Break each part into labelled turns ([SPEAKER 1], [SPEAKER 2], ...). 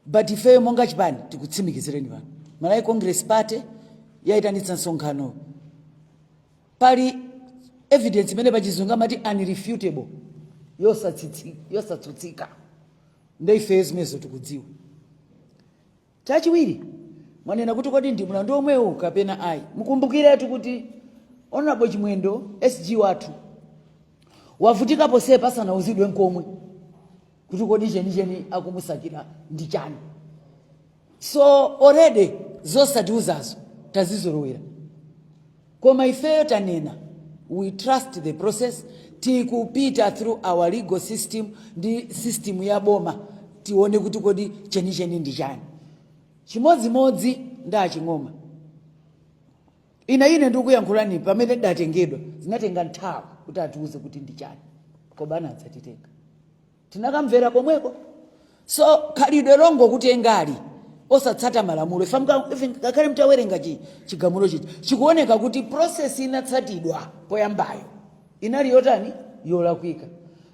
[SPEAKER 1] but ifeyo monga chipani tikutsimikizireni pano malawi congress party sidayitanitse msonkhano pali evidence imene pachizungu amati unrefutable yosatsutsika nde ifeyo zimenezo tikudziwa Chachiwiri, mwanena kuti kodi ndi mlandu omwewu kapena ayi. Mukumbukiretu kuti Honourable Chimwendo SG wathu wavutika ponsepa asanauzidwe nkomwe kuti kodi chenicheni akumusakira ndi chani. So already zosatiuzazo tazizolowera. Koma ifeyo tanena we trust the process, tikupita through our legal system ndi system ya boma tione kuti kodi chenicheni ndi chani. Chimodzimodzi ndi a Ching'oma. Ine ine ndikuyankhulane pamene datengedwa zinatenga nthawi kuti atiuze kuti ndi chani koma anadzatitenga. tinakamvera komweko so khalidwe longokutengali osatsata malamulo Ife mka- ife ngakhale mtawerenga chi- chigamulo chichi chikuoneka kuti process inatsatidwa poyambayo inali yotani yolakwika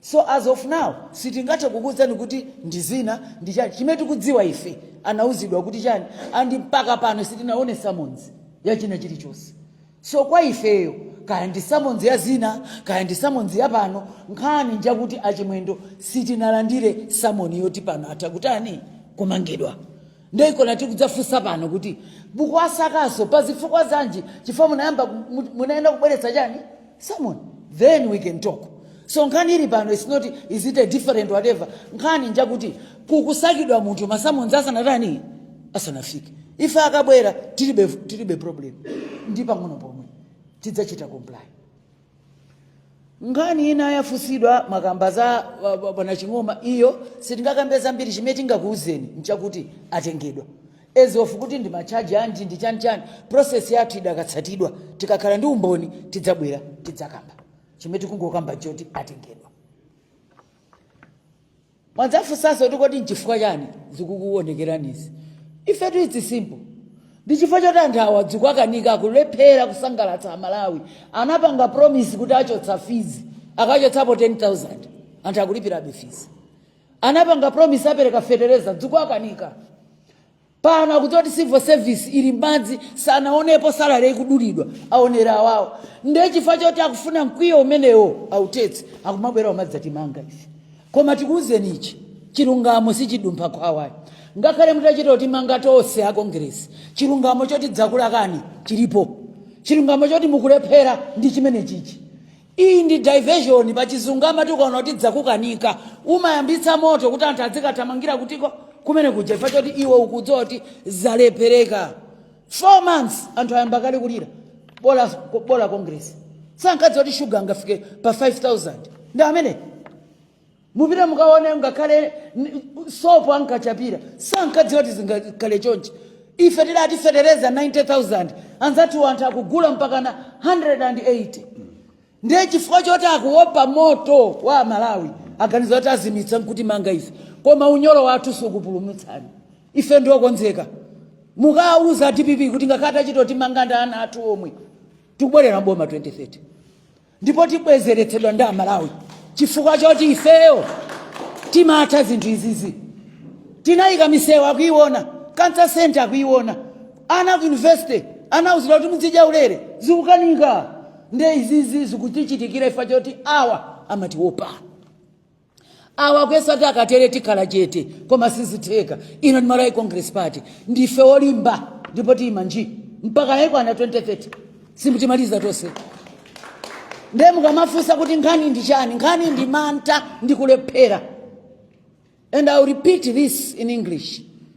[SPEAKER 1] so as of now sitingathe kukuwuzani kuti ndi zina ndi chani chimene tikudziwa ife anawuzidwa kuti chani and mpaka pano sitinaone summons yachina chilichonse So kwa ifeyo, kaya ndi summons ya zina, kaya ndi summons ya pano, nkhani njakuti a Chimwendo sitinalandire summon yoti pano atha kutani, kumangidwa. Nde nkona tikudzafunsa pano kuti mukuwasakaso pa zifukwa zanji chifukwa munayamba, munayenera kubweretsa chani, summons then we can talk. So nkhani ili pano it's not is it a different whatever, nkhani njakuti kukusakidwa munthu ma summons asanatani. asanafike ife akabwera tilibe, tilibe problem ndi pang'ono pomwe tidzachita comply nkhani ina yafunsidwa makamba za wa- wa- bwana ching'oma iyo sitingakambe zambiri chimene tingakuwuzeni nchakuti atengedwa as of kuti ndi machaji anji ndi chanichani process yathu idakatsatidwa tikakhala ndi umboni tidzabwera tidzakamba chimene tikungokamba choti atengedwa mwadzafunsanso kuti kodi nchifukwa chani zikukuonekeranizi ifetu it's simple ndi chifukwa choti anthu awa dzikuwakanika akulephera kusangalatsa amalawi anapanga promise kuti achotsa fizi akachotsapo 10000 anthu akulipirabe fizi anapanga promise apereka fetereza dzikuwakanika pano akuti oti civil service ili m'madzi sanaonepo salary ikudulidwa aonera awawo ndiye chifukwa choti akufuna mkwiyo umenewo autetse akumabwera kumadzatimanga ife koma tikuwuzeni ichi chilungamo sichidumpha khwawayi ngakhale mutachita kutimanga tonse a kongeresi chilungamo choti dzakulakani chilipo chilungamo choti mukulephera ndi chimene chichi Iyi ndi diversion pachizungu amati ukaona kuti zakukanika umayambitsa moto kuti anthu azikathamangira kutiko kumene kuja chifukwa choti iwe ukudziwa kuti zalephereka 4 months anthu ayamba kale kulira bola congress sankadziwa kuti shuga angafike pa 5000 ndi amene mupita mukaone ngakhale sopo ankachapira sankadziwa kuti zingakhale chonchi ife tidati fetereza 90000 anzathu anthu akugula mpakana 180 ndiye chifukwa choti akuopa moto wa amalawi aganiza kuti azimitsa nkutimanga ife koma unyolo wathu sukupulumutsani. ife ndiokonzeka mukauze dpp kuti ngakhale atachita kutimanga ndi ana athu omwe tikubwerera m'boma 2030 ndipo tibwezeretsedwa ndi amalawi chifukwa choti ifeyo timatha zinthu izizi tinayika misewu akuiona cancer center akuiona ana ku university anauzidwa kuti muzidya ulere zikukanika nde izizi zikutichitikira ifa choti awa amatiwopa awa akuyesa kuti akatere tikhala chete koma sizitheka ino ndi malawi congress party ndife olimba ndipo tiyima nji mpaka ikwana 2030 simutimaliza tonse ndiye mukamafunsa kuti nkhani ndi chani nkhani ndi mantha ndi kulephera and i will repeat this in english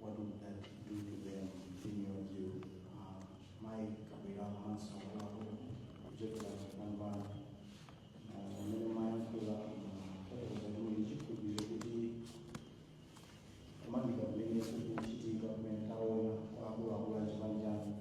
[SPEAKER 1] what would that do to them continuing to uh, mai kabila manso wako kuchekera kupambana amene mwayankhula taezakuichi kubile kuti kumangidwa kumene kukuchitika kumene taona kwaakuluakulu achipani chanu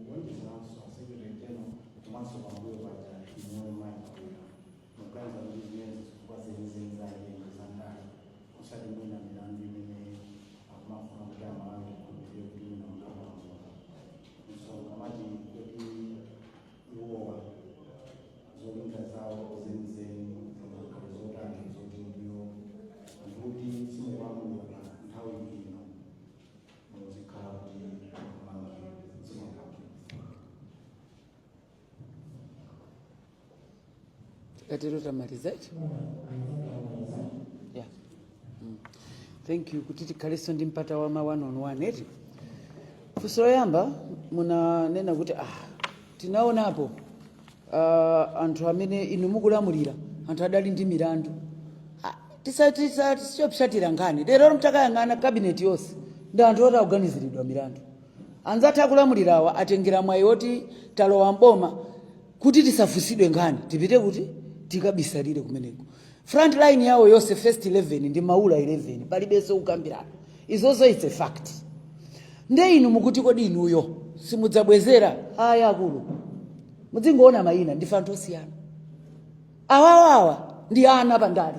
[SPEAKER 1] kuonjezeranso a secretary general komanso pambuyo paja inu mai kabila mukuganiza kuti zimenezo zifukwa zenizeni zimene ndi zandale osati mwina milandu imene akumafuna kuti amalawi akhulupirire kuti mwina mutawalamuka so kamati kuti iwowa zolinga zawo zenizeni zingakhala zotani zoti ndiyo anthu kuti simukwamuka nthawi ino muzikhala kuti tikatero tamaliza ichi yeah. mm. thank you kuti tikhalenso ndi mpata wa ma one on one eti funso loyamba munanena kuti ah, tinaonapo uh, anthu amene inu mukulamulira anthu adali ndi milandu Ah, tisa- tisa- tisapsatire nkhani lero mtakayang'ana kabineti yonse ndi anthu oti akuganiziridwa milandu Anzathu akulamulirawa asatengere mwayi woti talowa m'boma kuti tisafunsidwe Ngati tipite kuti? Tikabisalire kumeneko. Front line yawo yonse first 11 ndi maula 11 palibenso kukambirana. Izozo it's a fact. Nde inu mukuti kodi inuyo simudzabwezera? Aya akulu. Mudzingoona mayina ndife anthu osiyana. Awawawa ndi ana pandale.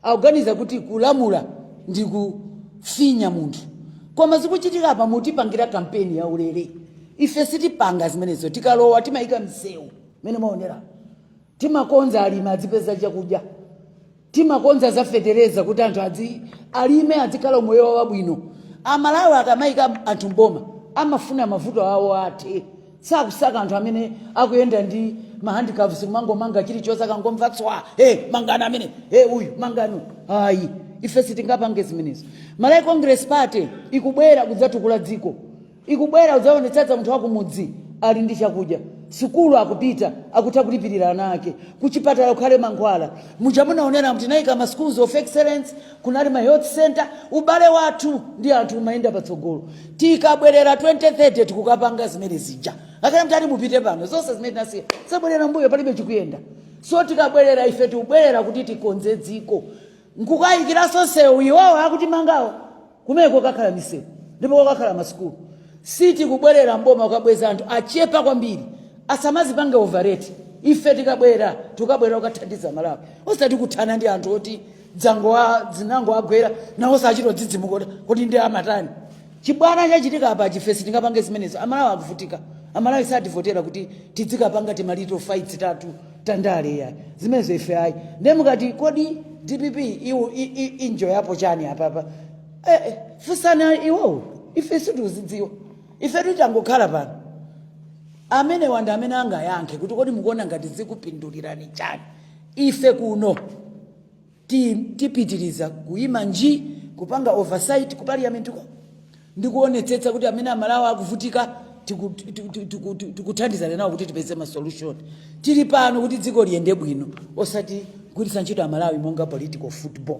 [SPEAKER 1] akuganiza kuti kulamula ndi kufinya munthu koma zikuchitika apa mukutipangira kampeni ya ulere ife sitipanga zimenezo tikalowa timayika msewu mene munaonera timakonza alimi adzipeza chakudya timakonza za fetereza kuti anthu adzi alime adzikhala umoyo wawo wabwino amalawi akamayika anthu mboma amafuna mavuto awo athe Sakusaka anthu amene akuyenda ndi ma handcuffs kumangomanga chilichonse akangomva tswa hey, mangani amene hey, uyu mangani ayi ife sitingapange zimenezo malawi congress party ikubwera kudzatukula dziko ikubwera kudzaonetsetsa munthu wakumudzi ali ndi chakudya sukulu akupita akutha kulipirira ana ake kuchipatala kukhale mankhwala muja munaonera kuti naika ma schools of excellence Kunali ma health centre, ubale wathu ndi anthu umayenda patsogolo. Tikabwelera 2030 tikukapanga zimene zija. Ngakhale mutati mupite pano, zonse zimene tinasiya, zabwelera mbuyo palibe chikuyenda. So tikabwelera ife tikubwelera kuti tikonze dziko. Nkukayikanso msewu iwowo akutimangawo. Kumene kukakhala misewu ndipo kukakhala ma sukulu. Sitikubwelera mboma kukabweza anthu achepa kwambiri. Asamazipange overrate. Ife tikabwera, tikukabwelera kukathandiza Malawi. Osati kuthana ndi anthu oti dzangowa dzinangowagwera nawo sachita dzidzimuka kuti kuti ndi amatani chibwana chachitika apa ife sitingapange zimenezo amalawi akuvutika amalawi satisvotera kuti tidzikapanga timalito fights tathu tandale ya zimenezo ife ayi nde mukati kodi dpp iwo i- i- injo yapo chani apapa eh, eh, funsani iwowo ife sitikuzidziwa ife titangokhala pano amene wanda amene angayankhe kuti kodi mukuona ngati zikupindulirani chani Ife kuno ti, tipitiriza kuima nji kupanga oversight ku parliament ko ndi kuonetsetsa kuti amene amalawi akuvutika tikuthandizana nawo kuti tipeze ma solution tili pano kuti dziko liyende bwino osati kugwiritsa ntchito amalawi monga political football